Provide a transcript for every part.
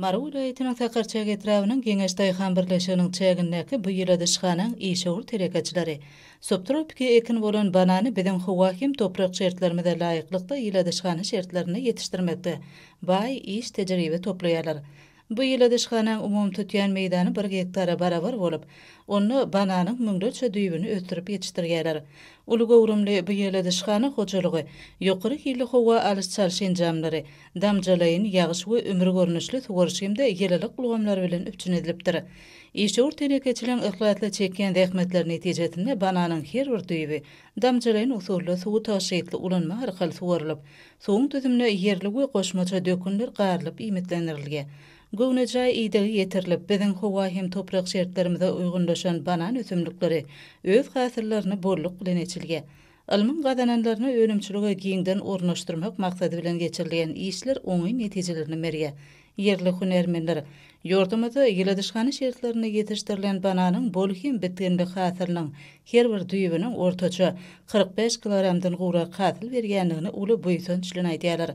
Mary welaýatynyň Sakarçäge etrabynyň Geňeş daýhan birleşiginiň çägindäki bu ýyladyşhanaň işewür telekeçileri subtropiki ekin bolan banany biziň howa hem toprak şertlerimize laýyklykda ýyladyşhana şertlerinde ýetişdirmekde baý iş tejribe toplaýarlar. Bu ýyladyşhanaň umumy tutýan meýdany bir gektara barabar bolup, onda bananyň müňlerçe düýbüni ösdürip ýetişdirýärler. Uly göwrümli bu ýyladyşhana hojalygy ýokary hilli howa alyş-çalyş enjamlary, damjalaýyn ýagyş we ümür görnüşli suwaryş hem-de ýylylyk ulgamlary bilen üpjün edilipdir. Işewür telekeçiligiň yhlasly çekýän zähmetleri netijesinde bananyň her bir düýbi damjalaýyn usulda suwy tygşytly ulanma arkaly suwarylyp, suwuň düzümine ýerli we goşmaça dökünler garylyp iýmitlendirilýär. Göwnejaý idegi ýetirilip, biziň howa hem toprak şertlerimize uýgunlaşan banan ösümlikleri öz hasyllaryny bolluk bilen eçilýär. Ylmyň gazananlaryny önümçilige giňden ornaşdyrmak maksady bilen geçirilýän işler oňyn netijelerini berýär. Ýerli hünärmenler ýurdumyzda ýyladyşhana şertlerinde ýetişdirilen bananyň bol hem bitginli hasylynyň her bir düýbüniň ortaça kyrk bäş kilogramdan gowrak hasyl berýändigini uly buýsanç bilen aýdýarlar.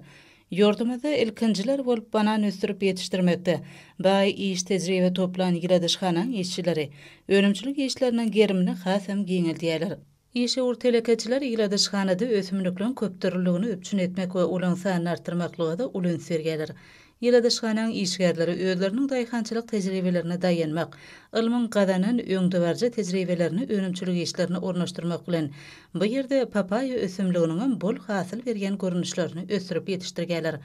Ýurdumyzda ilkinjiler bolup banan ösdürip ýetişdirmekde baý iş-tejribe toplan ýyladyşhanaň işçileri önümçilik işleriniň gerimini has hem giňeldýärler. Işewür telekeçiler ýyladyşhanada ösümlikleň köpdürlüligini üpjün etmek we olaň sanyny artdyrmaklyga-da uly üns berýärler. Ýyladyşhanaň işgärleri özleriniň daýhançylyk tejribelerine daýanmak, ylmyň gazanan öňdebaryjy tejribelerini önümçilik işlerine ornaşdyrmak bilen, bu ýerde papaýa ösümliginiňem bol hasyl berýän görnüşlerini ösdürip ýetişdirýärler.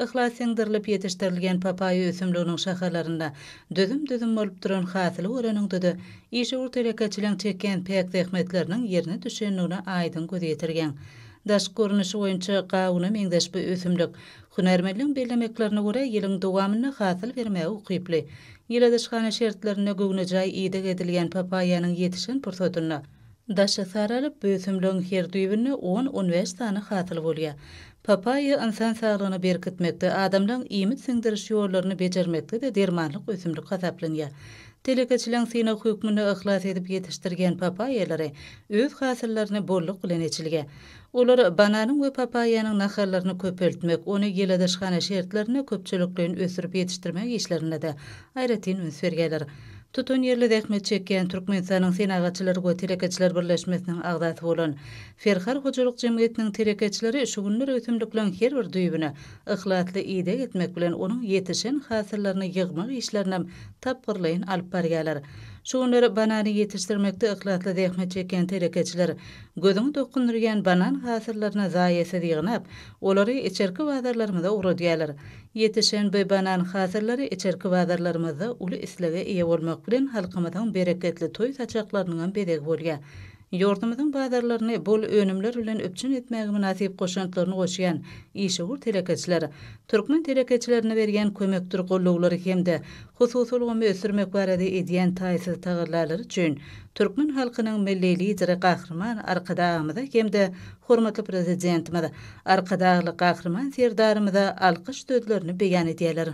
Yhlas siňdirilip ýetişdirilýän papaýa ösümliginiň şahalarynda düzüm-düzüm bolup duran hasyly göreniňde-de, işewür telekeçiligiň çekýän päk zähmetleriniň ýerine düşendigine aýdyň göz ýetirýäň. Daşky görnüşi boýunça gawuna meňzeş bu ösümlik, hünärmenligiň bellemeklerine görä, ýylyň dowamynda hasyl bermäge ukyply. Ýyladyşhana şertlerinde göwnejaý ideg edilýän papaýanyň ýetişen pursatynda, Daşy saralyp, bu ösümligiň her düýbünde on-on bäş sany hasyl bolýar. Papaýa ynsan saglygyny berkitmekde, adamlaryň iýmit siňdiriş ýollaryny bejermekde-de dermanlyk ösümlik hasaplanýar. Telekeçileň synag hökmünde yhlas edip ýetişdirýän papaýalary öz hasyllaryny bolluk bilen eçilýär. Olar bananyň we papaýanyň nahallaryny köpeltmek, ony ýyladyşhana şertlerinde köpçülikleýin ösdürip ýetişdirmek işlerinde-de Aýratyn üns berýärler. Tutanýerli zähmet çekýän Türkmenistanyň Senagatçylar we telekeçiler birleşmesiniň agzasy bolan Ferhar hojalyk jemgyýetiniň telekeçileri şu günler ösümlikleň her bir düýbüne yhlasly ideg etmek bilen onuň ýetişen hasyllaryny ýygmak işlerinam tapgyrlaýyn alyp barýarlar. Şu günler banany ýetişdirmekde yhlasly zähmet çekýän telekeçiler gözüňi dokundyrýan banan hasyllaryny zaýasyz ýygnap, olary içerki bazarlarymyza ugradýarlar. Ýetişen bu banan hasyllary içerki bazarlarymyzda uly islege eýe bolmak bilen, halkymyzyň bereketli toý saçaklarynyňam bezegi bolýar. Ýurdumyzyň bazarlaryny bol önümler bilen üpjün etmäge mynasyp goşantlaryny goşýan işewür telekeçiler, türkmen telekeçilerine berýän kömekdir gollawlary hem-de hususy ulgamy ösdürmek barada edýän taýsyz tagallalary üçin türkmen halkynyň Milli Lideri Gahryman Arkadagymyza hem-de hormatly Prezidentimiz Arkadagly Gahryman Serdarymyza alkyş sözlerini beýan edýärler.